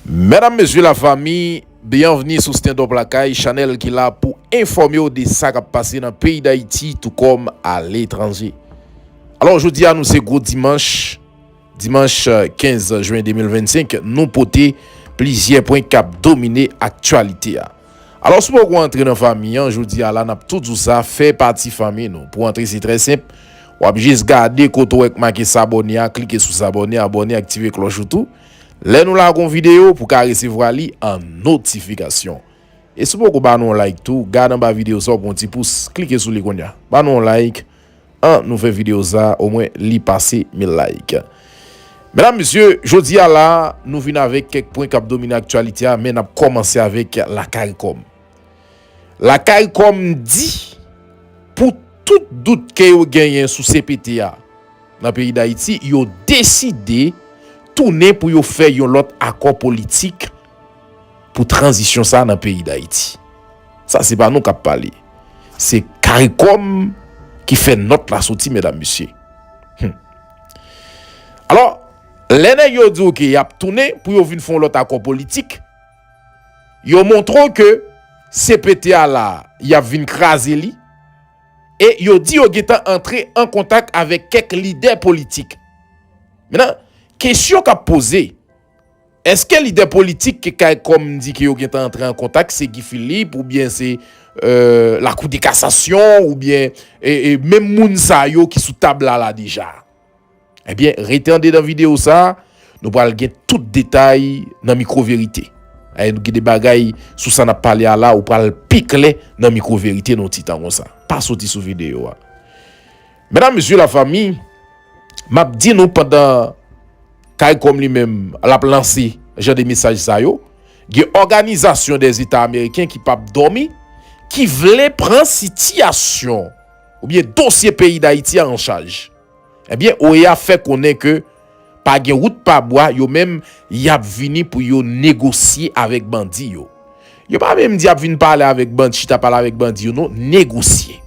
Medam mesye la fami Byanvni sou Stendop Lakay chanèl ki la pou enfòme w de sa k ap pase nan peyi Dayiti tou kòm aletranje Alò jodi a nou se gwo dimanch Dimanch 15 Jwen 2025 nou pote plizyè pwen kap domine aktyalite a. Alò si w poko antre nan fanmi an jodi a la nap tou di w sa fè pati fanmi nou. Pou w antre se trè senp wap jis gade kote w wè k make sabòne a klike sou sabòne abòne aktive klòch ou tou lè nou lage yon videyo pou ka resevwa li an notifikasyon. E si w poko ba nou yon like tou gad anba videyo sa w pran yon ti pous klike sou li kounya ba nou yon like. An nou fè video sa o mwen li pase 1000 like. Medam mesye jodi a la nou vin avek kek pwen kap domine aktyalite a men nap komanse avek la caricom. La caricom di pou tout dout ke yo genyen sou cpt a nan peyi dayiti yo deside tounen pou yo fè yon lot akò politik pou tranzisyon sa nan peyi dayiti. Sa se pa nou kap pale. Se karikom ki fè nòt la soti medam mesye. Hum. Alò, lè nèg yo di w ke yap tounen pou yo vin fè yon lòt akò politik, yo montre w ke CPT a la a, yap vin kraze li, e yo di yo gentan antre an kontak avèk kèk lidè politik. Mennan, kesyon kap poze, Eske lidè politik ke Kaykom di ke yo gentan antre an kontak se Guy Philippe ou byen se la kou de kasasyon ou byen menm moun sa yo ki sou tab la la deja? Ebyen rete an dedan video sa nou pral gen tout detay nan mikro verite. Ayy gen de bagay sou sa nap pale a la ou pral pi klè nan mikro verite nan yon ti tan konsa. Pa soti sou video a. Medam mesye la fami map di nou pandan Caricom li menm lap lanse jan de mesaj sa yo gen òganizasyon dè zeta ameriken ki pap dòmi ki vle pran sitiyasyon oubyen dosye peyi dayiti a an chaj ebyen OEA fè konnen ke Pa gen wout pa bwa yo menm yap vini pou yo negosye avèk bandi yo. Yo pa menm di yap vin pale avèk bandi chita pale avèk bandi yo non negosye.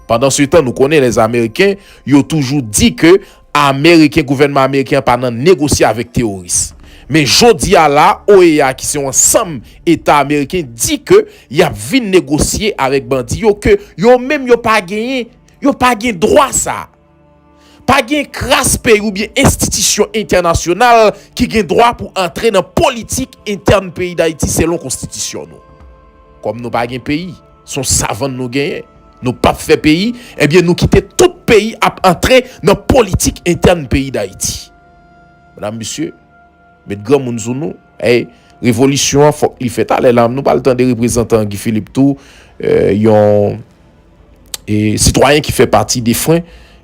Pandan se tan nou konnen lè ameriken yo toujou di ke ameriken gouvènman ameriken an pa nan negosye avèk teworis. Men jodi a la OEA ki se yon ansanm eta ameriken di ke yap vin negosye avèk bandi yo ke yo menm yo pa genyen yo pa gen dwa sa. Pa gen kras peyi oubyen enstitisyon entènasyonal ki gen dwa pou antre nan politik entèn peyi Dayiti selon konstitisyon nou. Kòm nou pa gen peyi, son savann nou genyen, nou pap fè peyi, ebyen nou kite tout peyi ap antre nan politik entèn peyi Dayiti. Medam, mesye, met granmoun sou nou, ey, revolisyon an fòk li fèt alè la, nou pral tande reprezantan Guy Philippe tou, yon. E sitwayen ki fè pati defwen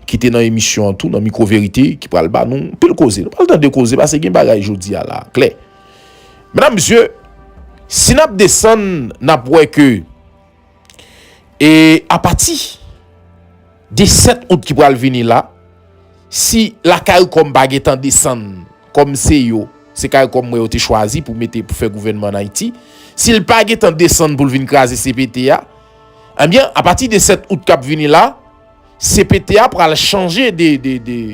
ki te nan emisyon an tou nan mikwo verite ki pral ba nou pil koze. Nou pral tande koze pase gen bagay jodi a la klè. Medam mesye si n ap desann n ap wè ke e apati de 7 out ki pral vini la si la caricom pa gen tan desann kòm se yo se caricom mwen yo te chwazi pou mete pou fè gouvènman an Ayiti si l pa gen tan desann pou l vin kraze CPT a. Ebyen, a pati de 7 out kap vini la, cpt a pral chanje de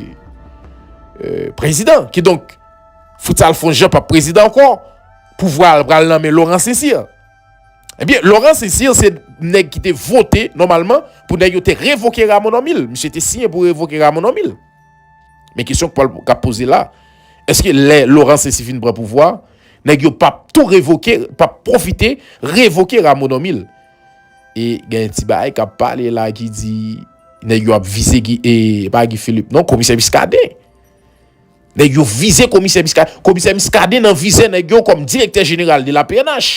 prezidan. Ki donk, Fritz Alphonse Jean pap prezidan ankò, pouvwa al pral nan men Laurent Cécile. Ebyen, eh Laurent Cécile se nèg ki te vote nòmalman pou nèg yo te revoke Rameau Normil. Misye te siyen pou revoke Rameau Normil. Men kesyon kap poze la, eske lè Laurent Cécile fin pran pouvwa a, Nèg yo pap tou revoke, pap pwofite revoke Rameau Normil. E gen yon ti bagay kap pale la ki di nèg yo ap vize Guy, e pa Guy Philippe non, komisè Muscadin. Nèg yo vize komisè Muscadin, komisè Muscadin nan vize nèg yo kòm direktè jeneral de la pnh.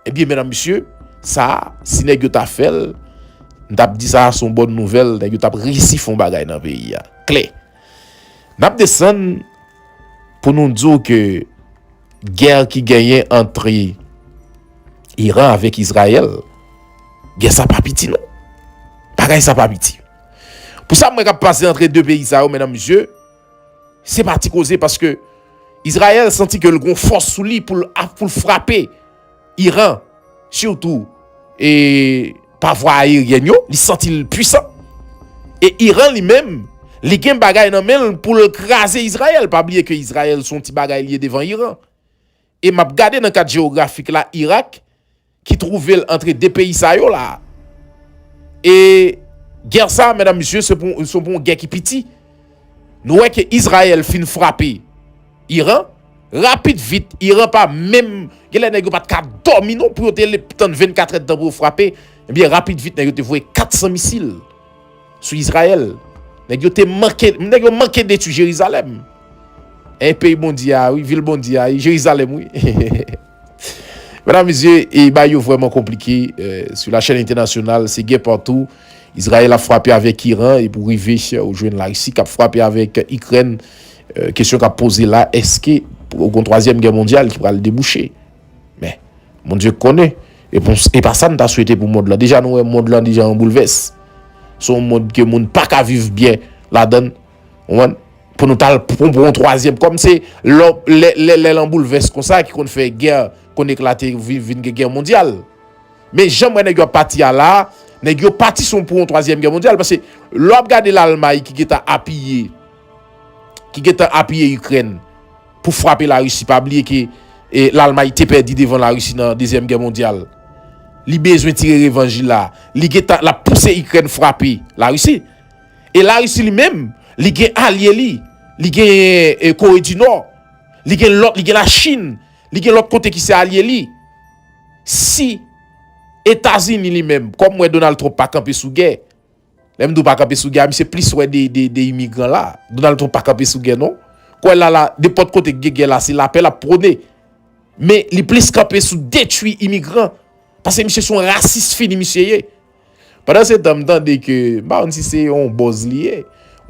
E byen menam misye, sa a, si nèg yo ta fèl, m tap di sa a son bòn nouvèl, nèg yo tap resi fon bagay nan peyi a. Klè. Nap desann pou nou di w ke gè ki genyen antre Iran avèk Izrayèl, gè sa pa piti non. Bagay sa pa piti. Pou sa m wè kap pase antre 2 peyi sa yo medan mesye, se pa ti koze paske Izrayèl santi ke l gon fòs sou li pou l frape. Iran surtout e pa vwa aeryèn yo li santi l pwisan e Iran li menm li gen bagay nan men l pou l kraze Izrayèl pa bliye ke Izrayèl son ti bagay li ye devan Iran e map gade nan kat jewografik la Irak ki twouve l antre 2 peyi sa yo la e gè sa mèdam misye se pou yon gè ki piti. Nou wè ke Izrayèl fin frape Iran, rapid vit, Iran pa menm, gen lè nèg yo pat ka dòmi non pou yo te tann 24 èdtan pou yo frape, ebyen rapid vit nèg yo te voye 400 misil sou Izrayèl. Nèg yo te manke, nèg yo manke detwi Jerizalèm. Èy peyi Bondye a wi, vil Bondye a, Jerizalèm wi. Medam mesye e bay yo vreman konplike sou la chèn entènasyonal se gè patou Izrayèl ap frape avèk Iran e pou rive ou jwenn la Risi kap frape avèk Ikrèn kesyon kap poze la eske ou gon twazyèm gè mondyal ki pral debouche men Bondye konnen e pa sa nou ta swete pou mond lan deja nou wè mond lan deja an boulvès son mond ke moun paka viv byen ladann. Konprann? Pou nou tal pran pou yon twazyèm kòm se lò lè lè lè lan boulvès konsa ki konn fè gè konn eklate vi vin gen gè mondyal. Men jan m wè nèg yo ap pati a la a, nèg yo pati son pou yon twazyèm gè mondyal pase lè w ap gade Lalmay ki gentan apiye ki gentan apiye Ikrèn pou frape Larisi pa bliye ke e Lalmay te pèdi devan Larisi nan dezyèm gè mondyal. Li bezwen tire revanj li la a. Li gentan l ap pouse Ikrèn frape Larisi. E Larisi li menm, li gen alye li, li gen Kore di Nò, li gen lòt, li gen la Chin, li gen lòt kote ki se alye li. Si Etazini li menm, kòm mwen Donald Trump pa kanpe sou gè, lè m di w pa kanpe sou gè a, misye plis wè de imigran la. Donald Trump pa kanpe sou gè non. Kwè la la, nenpòt kote ki gen gè la, se lapè l ap pwone. Men, li plis kanpe sou detwi imigran. Pase misye se yon rasis fini misye ye. Pandan se tan m tande ke m pa konn si se yon bòz li ye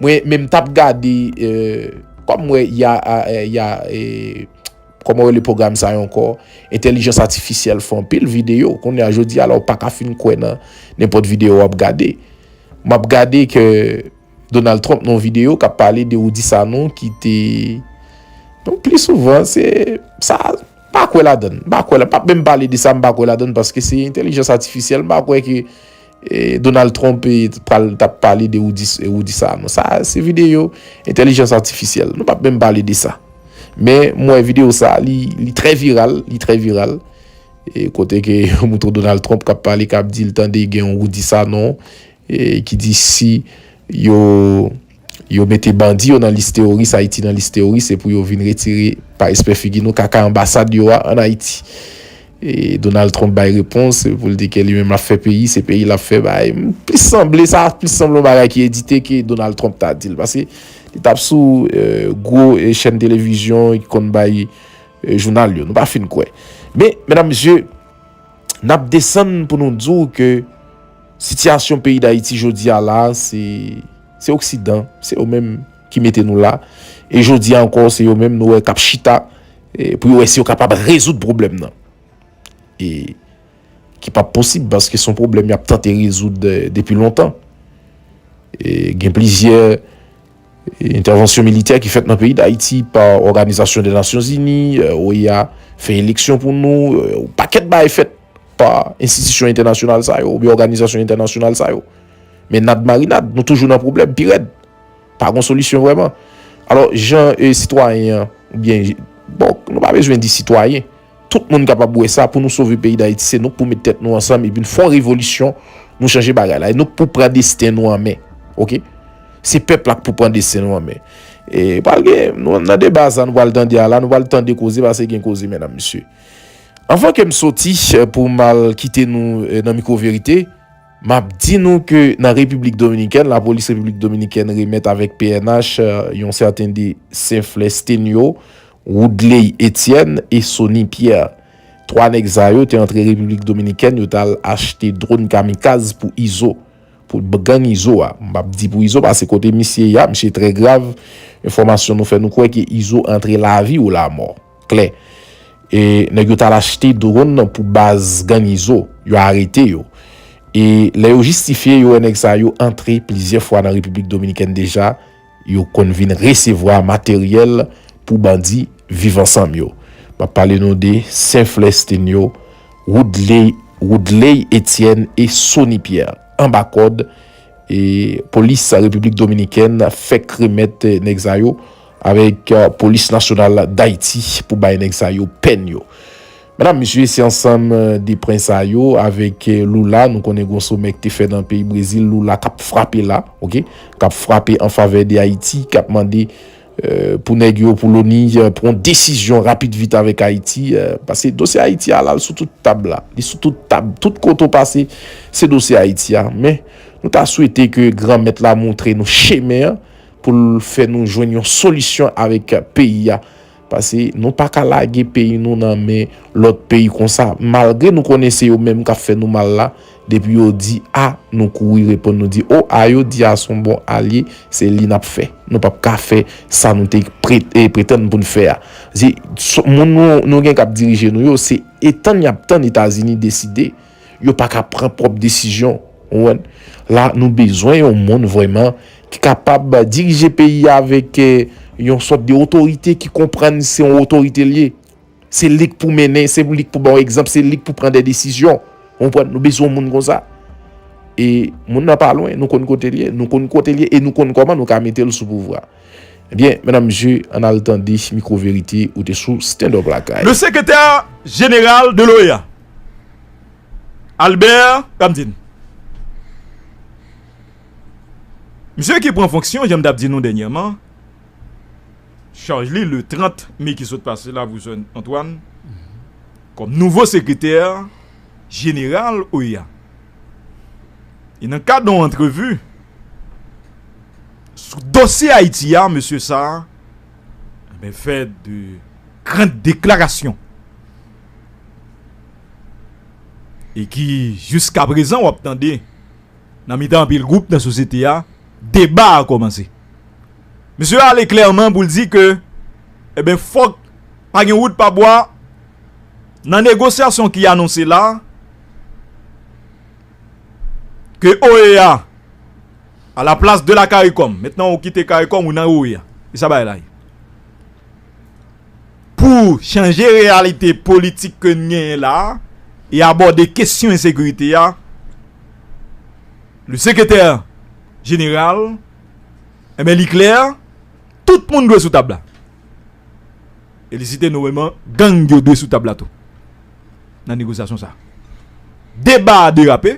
mwen men m tap gade kòm m wè ya ya kòman yo rele pwogram sa yo ankò entèlijans atifisyèl fè anpil videyo kounye a jodi a la ou pa ka fin kwè nan nenpòt videyo wap gade m ap gade ke Donald Trump nan yon videyo kap pale de Rudy Sanon ki te donk pli souvan se sa. M pa kwè ladan l. M pa kwè la. M pap menm pale de sa m pa kwè ladan l paske se entelijans atifisyèl. M pa kwè ke Donald Trump pral t ap pale de Rudy Sanon. Sa se videyo entelijans atifisyèl. Nou pap menm pale de sa. Men mwen wè videyo sa li trè viral. Li trè viral. Kote ke yo montre Donald Trump k ap pale k ap di l tande gen yon Rudy Sanon ki di si yo Yo mete bandi yo nan lis teworis ayiti nan lis teworis epou yo vin retire pa espè figi nou kaka anbasad yo a an ayiti Donald Trump bay repons pou l di ke li menm lap fè peyi se peyi lap fè bay m plis sanble sa plis sanble yon bagay ki edite ke Donald Trump ta di l paske li tap sou gwo chèn televizyon ki konn bay jounal yo nou pa fin kwè men medam mesye nap desann pou nou di w ke Sitiyasyon peyi Dayiti jodi a la, se oksidan, se yo menm ki mete nou la, e jodi a ankò se yo menm nou wè kap chita pou yo wè si yo kapab rezoud pwoblèm nan. E ki pap posib paske son pwoblèm yap tante rezoud depi lontan. E gen plizyè entèvansyon militè ki fèt nan peyi Dayiti pa òganizasyon de nasyon zini, oea fè eleksyon pou nou, ou pakèt bay fèt. pa enstitisyon entènasyonal sa yo oubyen òganizasyon entènasyonal sa yo. Men nad marinad, nou toujou nan pwoblèm pi rèd. Pa gon solisyon vrèman. Alò, jan e sitwayen an, oubyen, bon, nou pa bezwen di sitwayen, tout moun kapab wè sa pou nou sove peyi Dayiti se nou k pou met tèt nou ansanm epi n fon revolisyon nou chanje bagay la. E nou k pou pran desten nou an men. Ok? Se pèp la k pou pran desten nou an men. E pral gen, nan deba sa nou pral tande a la, nou pral tande koze pase gen koze mèdam mesye. Anvan ke m soti pou m al kite nou nan mikwo verite, m ap di nou ke nan Repiblik Dominikèn, lapolis Repiblik Dominikèn remèt avèk pnh yon sèten de Senflè Stenio, Woodley Etienne e Sony Pierre. Twa nèg sa yo te antre Repiblik Dominikèn, yo t al achte dron kamikaz pou Izo, pou gang Izo a. M p ap di pou Izo pase kote misye ye a, misye trè grav. Enfòmasyon nou fè nou kwè ke Izo antre lavi ou lamò. klè. E nèg yo t al achte dwonn nan pou baz gang Izo. Yo arete yo. E lè yo jistifye yo wè nèg sa yo antre plizyè fwa nan Repiblik Dominikèn deja, yo konn vin resevwa materyèl pou bandi Viv Ansanm yo. M ap pale nou de Senflè Estenyo, Woudley Woodley Etyèn e Sony Pyè. Anba kòd, e polis Repiblik Dominikèn fèk remèt nèg sa yo. avèk polis nasyonal dayiti pou bay nèg sa yo pèn yo. Medam mesye se ansanm de pwen sa yo avèk Lula nou konnen gon somè k te fè nan peyi brezil Lula kap frape la ok kap frape an favè de ayiti kap mande pou nèg yo pou loni pran desizyon rapid vit avèk ayiti paske dosye ayiti a lal sou tout tab la li sou tout tab tout kote ou pase se dosye ayiti a men nou ta swete ke gran mèt la montre nou chemen an. pou l fè nou jwenn yon solisyon avèk peyi a pase nou pa ka lage peyi nou nan men lòt peyi konsa malgre nou konnen se yo menm k ap fè nou mal la depi yo di a nou kouri reponn nou di o a yo di a s on bon alye se li n ap fè nou p ap ka fè sa nou te pretann pou n fè a se moun nou gen k ap dirije nou yo se e tann y ap tann Etazini deside. Yo pa ka pran pwòp desizyon. La nou bezwen yon moun vrèman ki kapab dirije peyi a avèk yon sòt de otorite ki konprann se yon otorite l ye. Se li k pou mennen, se li k pou ba w egzanp, se li k pou pran de desizyon. Nou bezwen yon moun konsa. E moun nan pa lwen, nou konn kote l ye, nou konn kote l ye e nou konn kòman nou ka mete l sou pouvwa. Ebyen medam mesye ann al tande mikro verite ou te sou stand up lakay. Le secrétaire général de l'OEA, Albert Ramdin, misye ki pran fonksyon jan m t ap di nou dènyèman, chaj li le 30 me ki sot pase la pou Sen Antwàn, kòm nouvo sekretè jeneral OEA. E nan kad yon antrevi. Sou dosye Ayiti a, mesye sa a fè de gran deklarasyon e ki jiska prezan w ap tande nan mitan anpil gwoup nan sosyete a, deba a kòmanse. Mesye a ale klèman pou l di ke eh fòk pa gen wout pa bwa nan negosyasyon ki anonse la a. Ke OEA a la plas de la caricom. Mentnan ou kite caricom ou nan OEA. E sa bay la ye. Pou chanje reyalite politik ke n genyen la a e abòde kesyon ensekirite a, le sekretè jeneral, enben li klè, tout moun dwe sou tab la. Felisite nou weman gang yo dwe sou tab la tou nan negosyasyon sa. Deba a derape.